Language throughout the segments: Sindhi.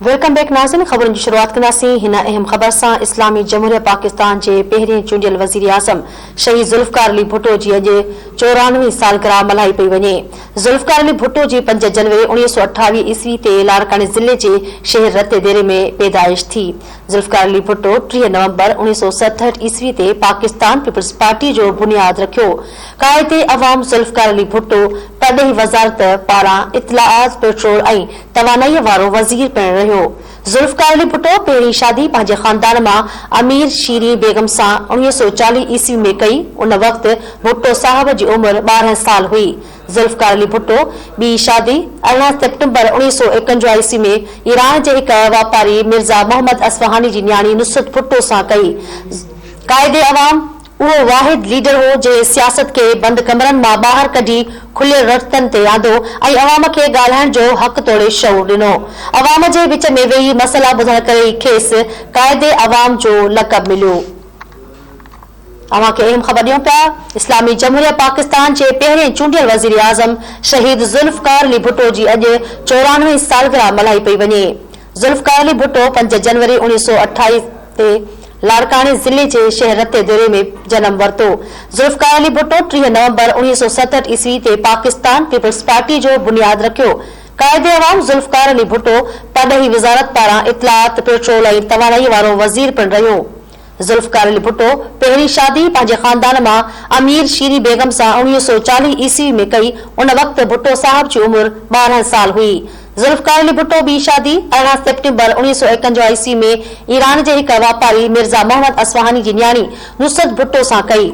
ويلڪم بيڪ ناظرين خبرن جي شروعات ڪنداسين هن اهم خبر سان اسلامي جمهوريه پاڪستان جي پهرين چونڊيل وزيراعظم شهيد ذوالفقار علي ڀٽو جي اڄ چورانوي سالگرهه ملهائي پئي وڃي ذوالفقار علي ڀٽو جي پنج جنوري اوڻيهه سؤ اٺاويهه عيسوي تي لاڙڪاڻي ضلعي جي شهر رتي ديري ۾ پيدائش ٿي ذوالفقار علي ڀٽو ٽيهه نومبر اڻويهه سؤ ستهٺ عيسوي تي پاڪستان پيپلز پارٽي جو بنياد رکيو. قائد عوام ذوالفقار علي ڀٽو پرڏيهي وزارت پاران اطلاعات، پيٽرول ۽ توانائيء وارو وزير پڻ رهيو. ذوالفقار علي ڀٽو پهرين شادي پنهنجي خاندان مان امير شيرين بيگم سان اڻويهه سؤ چاليهه عيسوي ۾ ڪئي. ان وقت ڀٽو صاحب جي عمر ٻارهن سال هئي. ذوالفقار علي ڀٽو ٻي شادي، ارڙهن سيپٽمبر اوڻيهه سؤ ايڪونجاهه عيسوي ۾ ايران جي هڪ واپاري مرزا محمد اصفهاني جي نياڻي نصرت ڀٽو سان ڪئي. قائد عوام اهو واحد ليڊر هو جنهن سياست کي بند ڪمرن مان ٻاهر ڪڍي کليل رڙتن تي آندو ۽ عوام کي ڳالهائڻ جو حق توڙي شعور ڏنو. عوام جي وچ ۾ ويهي مسئلا ٻڌڻ ڪري ئي کيس قائد عوام جو لقب مليو. اوهان کي اهم خبر ڏيون پيا اسلامي جمهوريه پاڪستان جي پهرين چونڊيل وزيراعظم شهيد ذوالفقار علي ڀٽو جي اڄ چورانوي سالگرهه ملهائي پئي وڃي ذوالفقار علي ڀٽو پنج جنوري اوڻيهه سؤ اٺائي تي لاڙڪاڻي ضلعي جي شهر رتي ديري ۾ جنم ورتو ذوالفقار علي ڀٽو ٽيهه نومبر اوڻيهه سؤ ستهٺ عيسوي تي پاڪستان پيپلز پارٽي جو بنياد رکيو قائد عوام ذوالفقار علي ڀٽو پرڏيهي وزارت پاران اطلاعات پيٽرول ۽ تواڻائي وارو وزير پڻ رهيو ذوالفقار علي ڀٽو پهرين شادي پنهنجي خاندان مان امير شيري بيگم سان اوڻيهه سؤ چاليهه عيسوي ۾ ڪئي، ان وقت ڀٽو صاحب جي عمر ٻارهن سال هئي. ذوالفقار علي ڀٽو ٻي شادي ارڙهن سيپٽمبر اوڻيهه سؤ ايڪنجاهه عيسوي ۾ ايران جي هڪ واپاري مرزا محمد اصفهاني جي نياڻي نصرت ڀٽو سان ڪئي.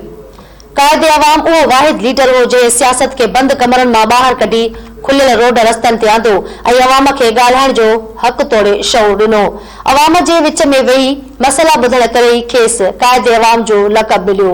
قائد عوام اهو واحد ليڊر هو جنهن سياست کي بند ڪمرن مان ٻاهر ڪڍي کليل روڊ رستن تي آندو ۽ عوام کي ڳالهائڻ جو حق توڙي شعور ڏنو. عوام جي وچ ۾ ويهي مسئلا ٻڌڻ ڪري ئي کيس قائد عوام جو لقب مليو.